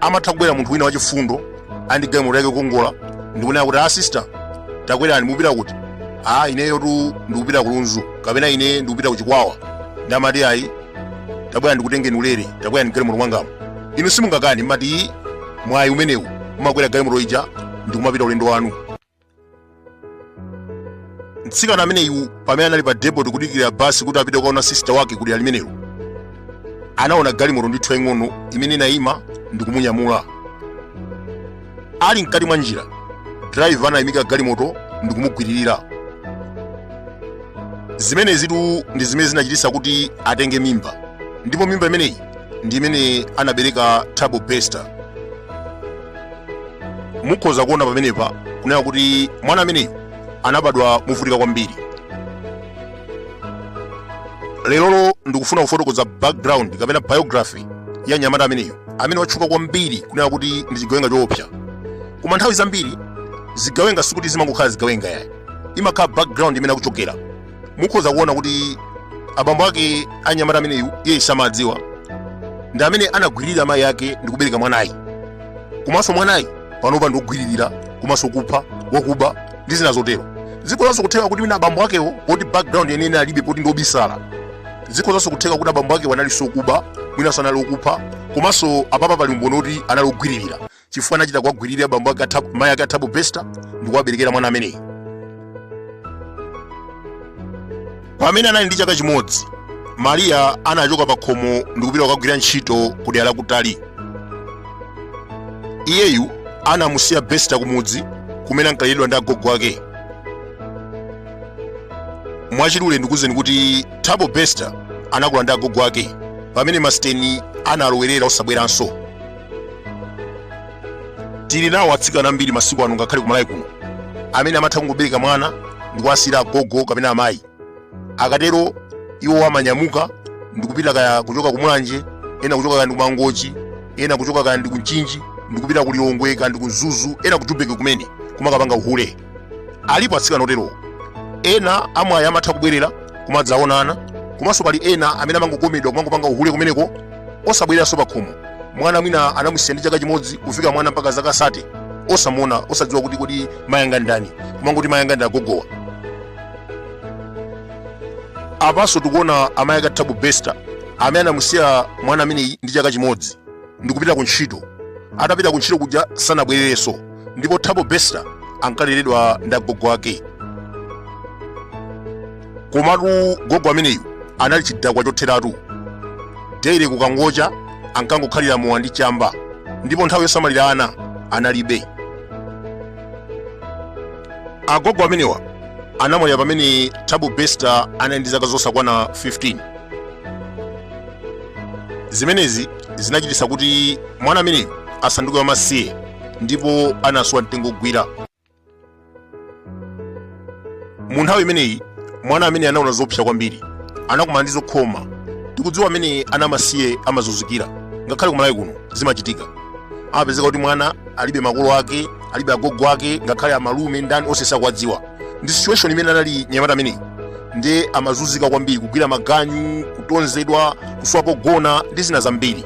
amatha kubwera munthu wina wachifundo andi galimoto yake kukongola ndikunena kuti a sister takwerani mupita kuti a ineyo tu ndikupita kulunzu kapena ine ndikupita kuchikwawa nde amati ayi tabwera ndikutengeni ulere takwerani galimoto mwangamo inu simungakani mmati mwayi umenewu umakwera galimoto ija ndikumapita ulendo wanu mtsikana ameneyu pamene anali pa depot kudikira basi kuti apite kukaona sisita wake kudera limenelo anaona galimoto ndithu yaying'ono imene inayima ndi kumunyamula ali mkati mwa njira driver anayimika galimoto ndi kumugwiririra zimenezitu ndi zimene zinachititsa kuti atenge mimba ndipo mimba imeneyi ndi imene anabereka thabo bester mukhoza kuona pamenepa kunena kuti mwana ameneyu anabadwa movutika kwambiri lerolo ndikufuna kufotokoza background kapena biography ya mnyamata ameneyu amene watchuka kwambiri kunena kuti ndi chigawenga choopsa koma nthawi zambiri zigawenga sikuti zimangokhala zigawenga yayi imakhala background imene akuchokera mukhoza kuona kuti abambo ake anyamata ameneyu iye samadziwa ndi amene anagwiririra amayi ake ndi kubereka mwanayu komanso mwanayu panopa ndi wogwiririra komanso kupha wakuba ndi zina zotero zikhozanso kutheka kuti mwina abambo akewo poti background yeniyeni alibe poti ndi obisala zikhozanso kutheka kuti abambo akewo analinso okuba mwinanso anali okupha komanso apapa pali umboni woti anali ogwiririra chifukwa anachita kuwagwiririra bambo ake mayi ake a thabo besta ndi kuwaberekera mwana ameneyi pamene anali ndi chaka chimodzi mariya anachoka pa khomo ndi kupita kukagwira ntchito ku dera lakutali iyeyu anamusiya besta kumudzi kumene ankaleredwa ndi agogo ake mwachidule ndikuuzeni kuti thabo besta anakula ndi agogo ake pamene masiteni analowerera osabweranso tili nawo atsikana ambiri masiku ano ngakhale kumalawi kuno amene amatha kungobereka mwana ndi kuwasiyira agogo kapena amayi akatero iwo amanyamuka ndikupita kaya kuchoka kumulanje ena kuchoka kaya ndi kumangochi ena kuchoka kaya ndi kumchinji ndikupita ku lilongwe kaya ndi ku mzuzu ena ku jubeki kumene kumakapanga uhule alipo atsikana oterowo ena amwayi amatha kubwerera kumadzaona ana komanso pali ena amene amangokomedwa kumangopanga uhule kumeneko osabwereranso pakhomo mwana mwina anamusiya ndi chaka chimodzi kufika mwana mpaka zaka sate osamuona osadziwa kuti kodi mayanga ndani kumangoti mayanga ndi agogowa apanso tikuona amayi ake a thabo besta amene anamusiya mwana ameneyi ndi chaka chimodzi ndikupita ku ntchito atapita ku ntchito kuja sanabwererenso ndipo thabo bester ankaleredwa ndi agogo ake komatu gogo ameneyu anali chidakwa chotheratu daily kukangocha ankangokhalira mowa ndi chamba ndipo nthawi yosamalira ana analibe agogo amenewa anamwalira pamene thabo bester anali ndi zaka zosakwana 15 zimenezi zinachititsa kuti mwana ameneyu asanduke wamasiye ndipo anaswa mtengo wogwira mu nthawi imeneyi mwana ameneyu anaona zoopsa kwambiri anakumana ndi zokhoma tikudziwa mmene ana amasiye amazunzikira ngakhale kumalawi kuno zimachitika amapezeka kuti mwana alibe makolo ake alibe agogo ake ngakhale amalume ndi ndani onse sakuwadziwa ndi situation imene anali nyamata ameneyi ndiye amazunzika kwambiri kugwira maganyu kutonzedwa kusowa pogona ndi zina zambiri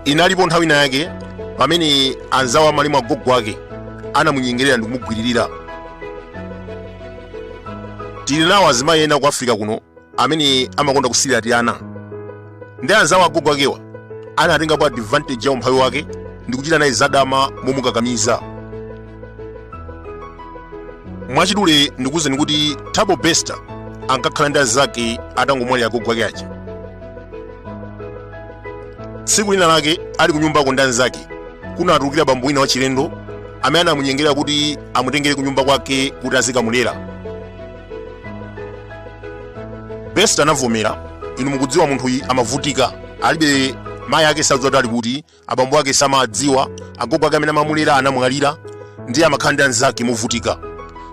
inalipo nthawi ina yake pamene anzawo a malemu agogo ake anamunyengerera ndi kumugwiririra tili nawo azimayi ena ku africa kuno amene amakonda kusirira tiana ndiye anzawo a agogo akewa anatengapo advantage ya umphawi wake ndi kuchita naye zadama momukakamiza mwachidule ndikuwuzeni kuti thabo bester ankakhala ndi anzake atangomwalira agogo ake aja tsiku lina lake ali kunyumbako ndi anzake kunatulukira bambo wina wachilendo amene anamunyengerera kuti amutengere kunyumba kwake kuti azikamulera bester anavomera inu mukudziwa munthuyi amavutika alibe mayi ake sadziwa kuti ali kuti abambo ake samawadziwa agogo ake amene amamulera anamwalira ndiye amakhala ndi anzake movutika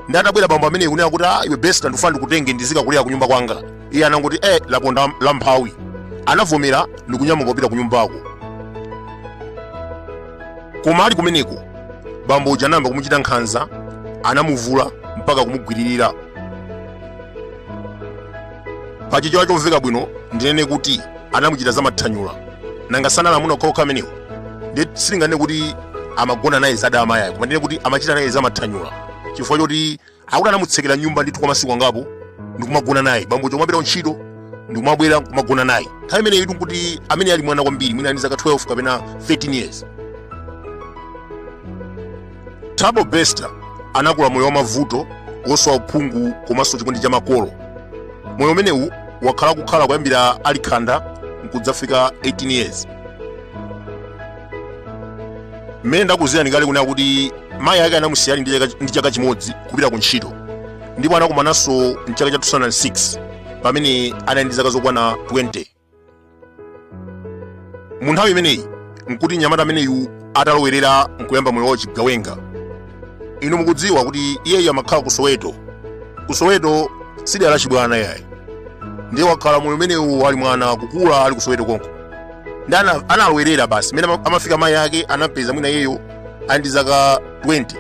ndiye atabwera bambo ameneyi kunena kuti ah, iwe bester ndikufuna ndikutenge ndizikakulera kunyumba kwanga iye anangoti eh laponda la mphawi anavomera ndikunyamuka kupita kunyumbako koma ali kumeneko bambo uja anayamba kumuchita nkhanza anamuvula mpaka kumugwiririra pa chichewa chomveka bwino ndinene kuti anamuchita za mathanyula nanga si anali amuna okhaokha amenewo nde sindinganene kuti amagona naye zadama yayi koma ndinene kuti amachita naye za mathanyula chifukwa choti akuti anamutsekera mnyumba ndithu kwa masiku angapo ndikumagona naye bambo akumapita ku ntchito ndikumabwera kumagona naye nthawi imeneyitu nkuti amene ali mwana kwambiri mwina ali ndi zaka 12 kapena 13 years thabo bester anakula moyo wa mavuto wosowa uphungu komanso chikondi cha makolo moyo umenewu wakhala kukhala kuyambira ali khanda nkudzafika 18 years mmene ndakuuzirani kale kunena kuti mayi ake anamusiya ali ndi chaka- ndi chaka chimodzi kupita ku ntchito ndipo anakumananso mchaka cha 2006 pamene anali ndi zaka zokwana 20 mu nthawi imeneyi nkuti mnyamata ameneyu atalowerera nkuyamba moyo wa uchigawenga inu mukudziwa kuti iyeyu amakhala ku soweto ku soweto si dela lachibwana iyayi ndiye wakhala moyo umenewu ali mwana kukula ali ku soweto konko ndi ana- analowerera basi mene ama- amafika mayi ake anampeza mwina iyeyo ali ndi zaka 20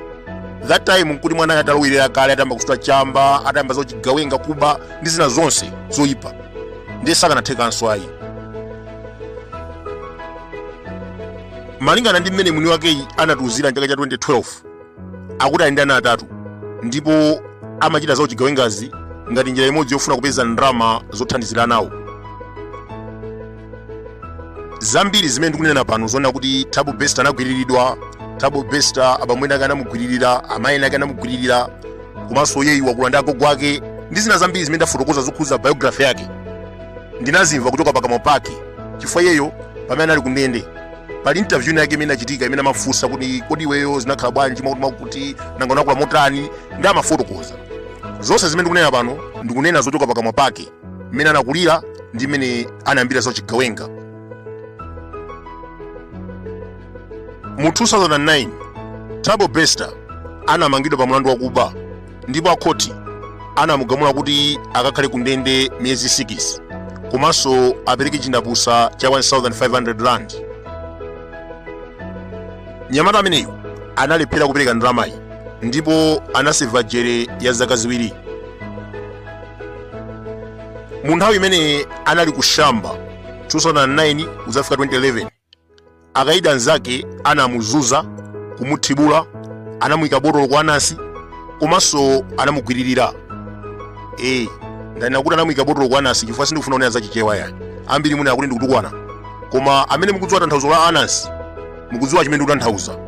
that time nkuti mwana atalowerera kale atayamba kusuta chamba atayamba zauchigawenga kuba ndi zina zonse zoyipa ndiye sakanathekanso ayi malingana ndi mmene mwini wakeyu anatiuzira mchaka cha 2012 akuti ali ndi ana atatu ndipo amachita za uchigawengazi ngati njira imodzi yofuna kupeza ndalama zothandizira anawo zambiri zimene ndikunena pano zonena kuti thabo bester anagwiriridwa thabo bester abambo ake anamugwiririra amayi ake anamugwiririra komanso iyeyu wakula ndi agogo ake ndi zina zambiri zimene ndafotokoza zokhudza biography yake ndinazimva kuchoka pakamwa pake chifukwa iyeyo pamene anali kundende pali interview inayake imene inachitika imene amamufunsa kuti kodi iweyo zinakhala bwanji mwakuti mwakuti nanga unakula motani ndi amafotokoza zonse zimene ndikunena pano ndikunena zochoka pakamwa pake mmene anakulira ndi mmene anayambira zauchigawenga mu 2009 thabo bester anamangidwa pa mlandu wakuba ndipo akhoti anamugamula kuti akakhale ku ndende miyezi 6 komanso apereke chindapusa cha 1500 rand nyamata ameneyu analephera kupereka ndalamayi ndipo anaseva jere ya zaka ziwiri mu nthawi imene anali kushamba 2009 kudzafika 2011 akaidi anzake anamuzunza kumuthibula anamuyika botolo ku anasi komanso anamugwiririra e ndanena kuti anamuyika botolo ku anasi chifukwa sindikufuna kunena za chichewa ayi ambiri munena kuti ndikutukwana koma amene mukudziwa tanthauzo la anasi mukudziwa chimene ndikutanthauza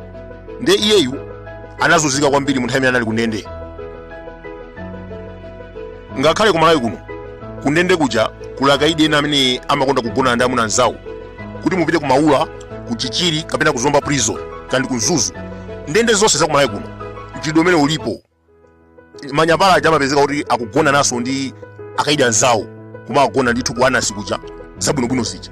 nde iyeyu anazunzika kwambiri mu nthawi imene anali kundende ngakhale kumalawi kuno kundende kuja kuli akaidi ena amene amakonda kugona ndi amuna anzawo kuti mupite ku maula ku chichiri kapena ku zomba prison kaya ndi ku mzuzu ndende zonse za kumalawi kuno mchitidwe umenewu ulipo manyapala aja amapezeka kuti akugonanaso ndi akaidi anzawo koma akugona ndithu ku anasi kuja zabwinobwino zija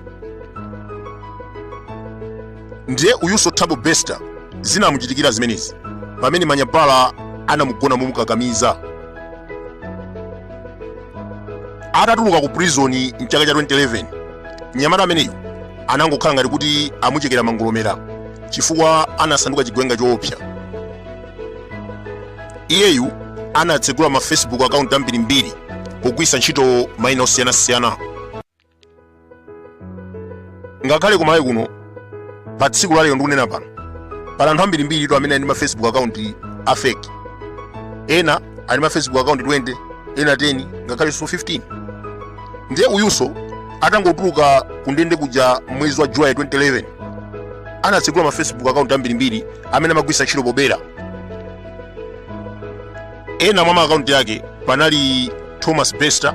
ndiye uyunso Thabo bester zinamuchitikira zimenezi pamene manyapala anamugona momukakamiza atatuluka ku prison mchaka cha 2011 mnyamata ameneyu anangokhala ngati kuti amuchekera mangolomera chifukwa anasanduka chigawenga choopsa iyeyu anatsegula ma facebook account ambirimbiri pogwiritsa ntchito mayina osiyanasiyana ngakhale kumalawi kuno pa tsiku lalero ndikunena pano pali anthu ambirimbiritu amene ali ndi ma facebook account a fake ena ali ma facebook account 20 ena 10 ngakhalenso 15 ndiye uyunso atangotuluka kundende kuja mwezi wa july 2011 anatsegula ma facebook account ambirimbiri amene amagwiritsa ntchito pobera ena mwa ma account ake panali thomas bester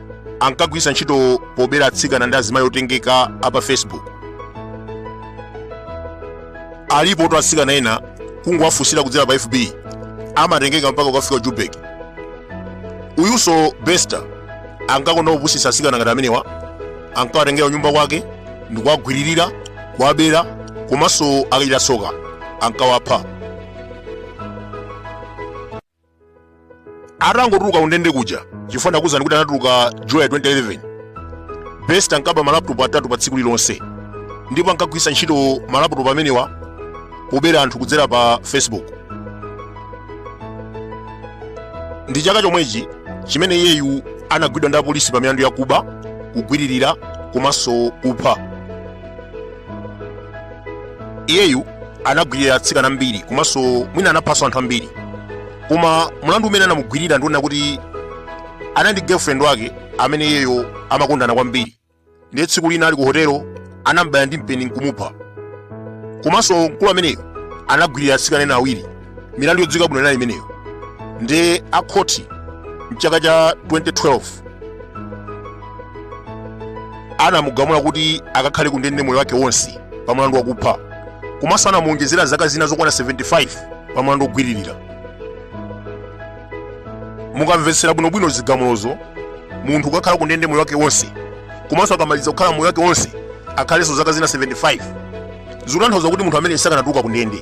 ankagwiritsa ntchito pobera atsikana ndi azimayi otengeka apa facebook alipotu atsikana ena kungowafunsira kudzera pa fb amatengeka mpaka kukafika jubeki uyunso bester ankakonda kupusitsa atsikana ngati amenewa ankawatengera kunyumba kwake ndikuwagwiririra kuwabera komanso akachita tsoka ankawapha atangotuluka kundende kuja chifukwa ndakuuzani kuti anatuluka july 2011 bester ankaba malaputopu atatu pa tsiku lilonse ndipo ankagwiritsa ntchito malaputopu amenewa pobera anthu kudzera pa facebook ndi chaka chomwechi chimene iyeyu anagwidwa ndi apolisi pa milandu yakuba kugwiririra komanso kupha iyeyu anagwirira atsikana ambiri komanso mwina anaphanso anthu ambiri koma mlandu umene anamugwirira ndiwonena kuti anali ndi girlfriend wake amene iyeyo amakondana kwambiri ndiye tsiku lina ali ku hotelo anam'baya ndi mpeni nkumupha komanso mkulu ameneyo anagwirira atsikana ena awiri milandu yodziwika bwino inali imeneyo ndiye akhoti mchaka cha 2012 anamugamula kuti akakhale kundende moyo wake wonse pa mlandu wakupha komanso anamuonjezera zaka zina zokwana 75 pa mlandu wogwiririra mukamvetsera bwinobwino zigamulozo munthu akakhale kundende moyo wake wonse komanso akamaliza kukhala moyo wake wonse akhalenso zaka zina 75 zikutanthauza kuti munthu ameneyu sakanatuluka kundende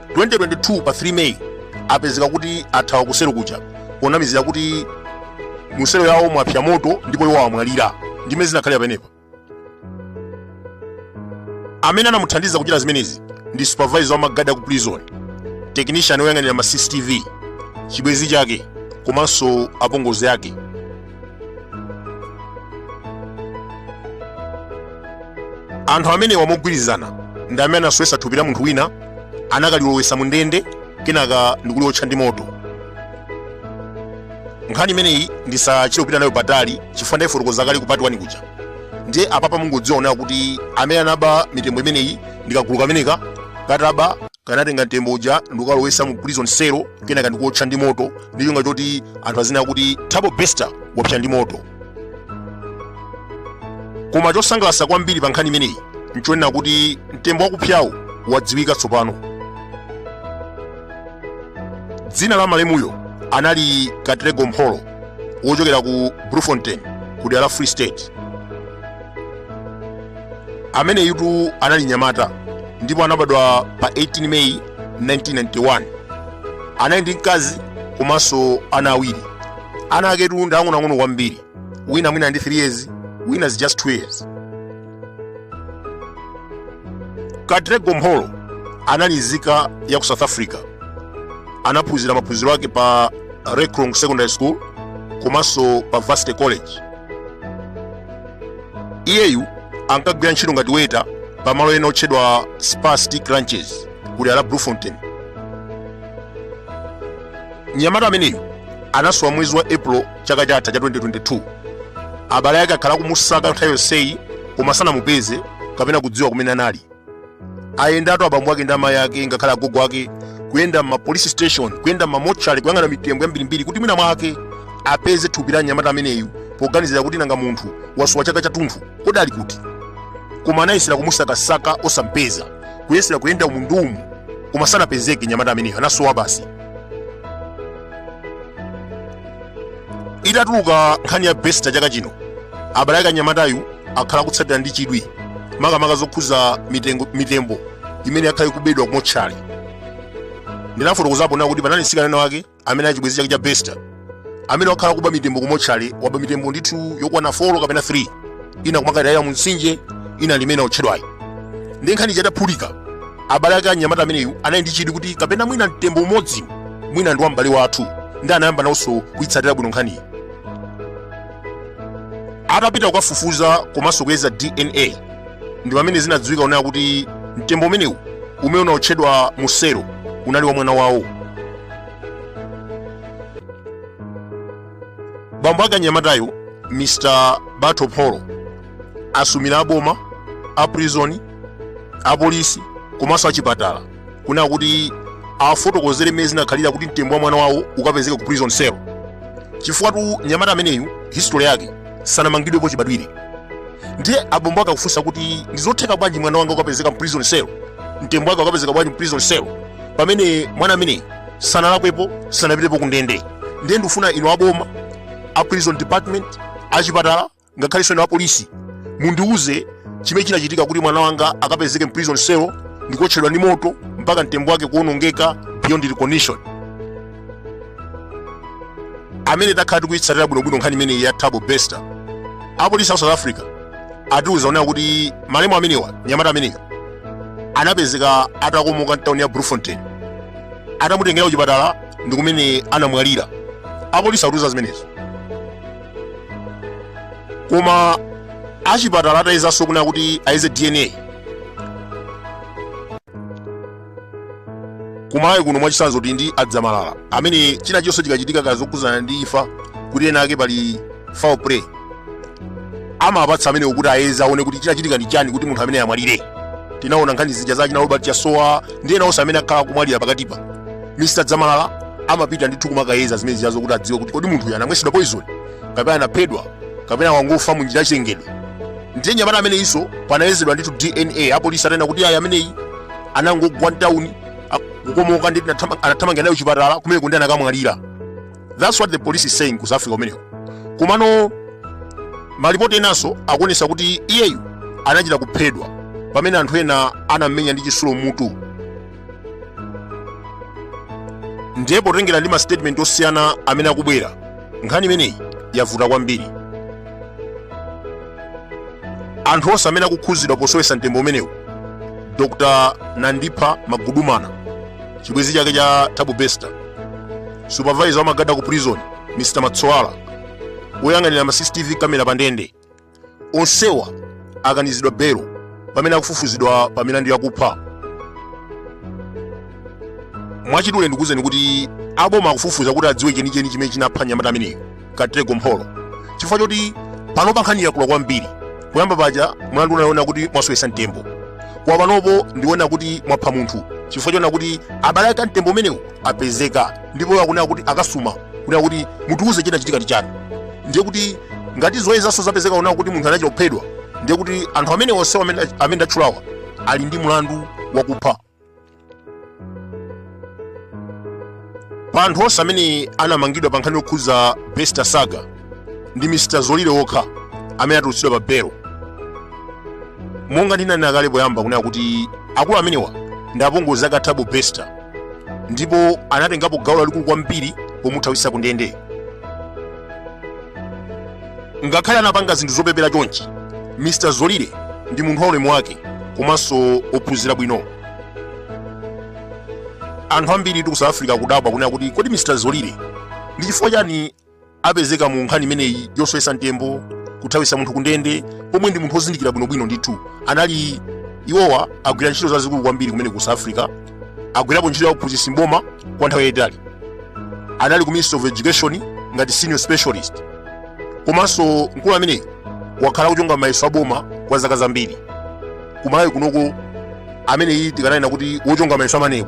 2022 pa 3 May apezeka kuti athawa kuselo kuja ponamizira kuti muselo yawo mwapsa moto ndipo iwo amwalira ndimene zinakhalira apapa amene anamuthandiza kuchita zimenezi ndi supervisor wa magadi aku prison technician woyang'anira ma cctv chibwenzi chake komanso apongozi ake anthu amenewa mogwirizana ndi amene anasowetsa thupi la munthu wina anakalilowetsa mu ndende kenaka ndikuliwotcha ndi moto nkhani imeneyi ndisachite kupita nayo patali chifukwa ndayifotokoza kale ku part one kuja ndiye apapa mungodziwa kunena kuti amene anaba mitembo imeneyi ndikagulu kameneka ka thabo kanatenga mtembo uja ndikukalowesa mu prison cell kenaka ndikuotcha ndi moto ndi cholinga choti anthu aziona kuti thabo bester wapsa ndi moto koma chosangalasa kwambiri pa nkhani imeneyi nchonena kuti mtembo wakupsawu wadziwika tsopano dzina la malemuyo anali katlego mpholo wochokera ku bloemfontein ku dera la free state ameneyutu anali nyamata ndipo anabadwa pa 18 meyi 1991 anali ndi mkazi komanso ana awiri ana aketu ndi ang'onoang'ono kwambiri wina mwina ndi 3 years wina is just 2 years katlego mpholo anali nzika ya ku south africa anaphunzira maphunziro ake pa rekrong secondary school komanso pa varsity college iyeyu ankagwira ntchito ngati waiter pa malo ena otchedwa spur steak ranches ku dera la bloemfontein mnyamata ameneyu anasowa mwezi wa april chaka chatha cha 2022 abale ake akhala akumusaka nthawi yonseyi koma sanamupeze kapena kudziwa kumene anali ayendatu abambo ake ndi amayi ake ngakhale agogo ake kuyenda m'ma police station kuyenda m'ma mortuary kuyang'ana mitembo yambirimbiri kuti mwina mwake apeze thupi la mnyamata ameneyu poganizira kuti nanga munthu wasowa chaka chathunthu kodi ali kuti koma anayesera kumusakasaka osampeza kuyesera kuyenda umu ndi umu koma sanapezeke mnyamata ameneyu anasowa basi itatuluka nkhani ya bester chaka chino abale ake a mnyamatayu akhala akutsatira ndi chidwi makamaka zokhuza mitembo imene yakhala ikubedwa kumotchali ndinafotokozapo nawo kuti panali mtsikana wake amene ali chibwenzi chake cha bester amene wakhala akuba mitembo kumotchali waba mitembo ndithu yokwana 4 kapena 3 ina kumakaitayira mu mtsinje ina ili imene yotchedwayi ndiye nkhaniyi itaphulika Abale ake a mnyamata ameneyu anali ndi chidwi kuti kapena mwina mtembo umodzi mwina ndi wa m'bale wathu ndiye anayamba nawonso kuitsatira bwino nkhaniyi. Atapita kukafufuza komanso kuyeza DNA ndi pamene zinadziwika kunena kuti mtembo umenewu umene unaotchedwa mu selo unali wa mwana wawo. Bambo ake a mnyamatayo Mr. Batho Mpholo asumira aboma a prison apolisi komanso achipatala kunena kuti afotokozere mmene zinakhalira kuti mtembo wa mwana wawo ukapezeka ku prison cell chifukwatu nyamata ameneyu history yake sanamangidwepo chibadwire ndiye abambo akakufunsa kuti ndizotheka bwanji mwana wanga ukapezeka mu prison cell mtembo wake ukapezeka bwanji mu prison cell pamene mwana ameneyu sanalakwepo sanapitepo ku ndende ndiye ndikufuna inu aboma a prison department achipatala ngakhalenso inu apolisi mundiuze chimene chinachitika kuti mwana wanga akapezeke mprison cell ndikuotchedwa ndi moto mpaka mtembo wake kuonongeka beyond recognition amene takhala tikuitsatira bwinobwino nkhani imeneyi ya thabo bester apolisi a south africa atiuza onena kuti malemu amenewa nyamata ameneyo anapezeka atakomoka mtauni ya bloemfontein atamutengera kuchipatala ndi kumene anamwalira apolisi atiuza zimenezo koma achipatala atayezanso kunena kuti ayeze dna kumalawi kuno mwachitsanzo kuti ndi adzamalala amene china chonse chikachitika kaya zokhudzana ndi imfa kuti penapake pali foul play amapatsa amenewo kuti ayeze aone kuti chinachitika ndi chani kuti munthu amene amwalire tinaona nkhani zija za china robert chasowa ndi ena onse amene akhala akumwalira pakatipa mr dzamalala amapita ndithu kumakayeza zimene zijazo kuti adziwe kuti kodi munthuyu anamwesedwa poison kapena anaphedwa kapena wangofa mu njira yachilengedwe ndiye nyamata ameneyinso panayezedwa ndithu dna apolisi atanena kuti ayi ameneyi anangogwa mtawuni kukomoka ndi tinatama- anathamangira naye chipatala kumene kundi anakamwalira that's what the police is saying ku south africa kumeneko komano malipoti enanso akuonesa kuti iyeyu anachita kuphedwa pamene anthu ena anammenya ndi chisulo mutu ndiye potengera ndi masitetimenti osiyana amene akubwera nkhani imeneyi yavuta kwambiri anthu onse amene akukhuzidwa posowesa mtembo umenewu dr nandipha magudumana chibwezi chake cha thabo bester supervisor wamagada ku prison mr matsoala woyang'anira ma cctv kamera pa ndende onsewa akanizidwa belo pamene akufufuzidwa pa milandu yakupha mwachidule ndikuwuzeni kuti aboma akufufuza kuti adziwe chenicheni chimene chinapha nyamata ameneyo katlego mpholo chifukwa choti panopa nkhani yakula kwambiri poyamba paja mlandu unali wonena kuti mwasowetsa mtembo koma panopo ndi wonena kuti mwapha munthu chifukwa chonena kuti abale ake a mtembo umenewu apezeka ndipo akunena kuti akasuma kunena kuti mutiuze chinachitika ndi chani ndiye kuti ngati zoyezanso zapezeka kunena kuti munthu anachita kuphedwa ndiye kuti anthu amene onse amene amene ndatchulawa ali ndi mlandu wakupha pa anthu onse amene anamangidwa pa nkhani yokhuza bester saga ndi mr zolile wokha amene atulutsidwa pa belo monga ndinanena kale poyamba kunena kuti akulu amenewa ndi apongozi ake a thabo bester ndipo anatengapo gawo lalikulu kwambiri pomuthawitsa ku ndende ngakhale anapanga zinthu zopepera chonchi mr zolile ndi munthu waulemu wake komanso ophunzira bwino anthu ambiri tiku south africa kudabwa kunena kuti kodi mr zolile ndi chifukwa chani apezeka mu nkhani imeneyi yosowesa mtembo kuthawisa munthu kundende pomwe ndi munthu wozindikira bwinobwino ndithu anali iwowa agwira ntchito zazikulu kwambiri kumene ku south africa agwirapo ntchito ya uphunzitsi mboma kwa nthawi yayitali anali ku ministry of education ngati senior specialist komanso mkulu ameneyi wakhala akuchonga mayeso aboma kwa zaka zambiri kumalawi kunoko ameneyi tikananena kuti wochonga mayeso a maneb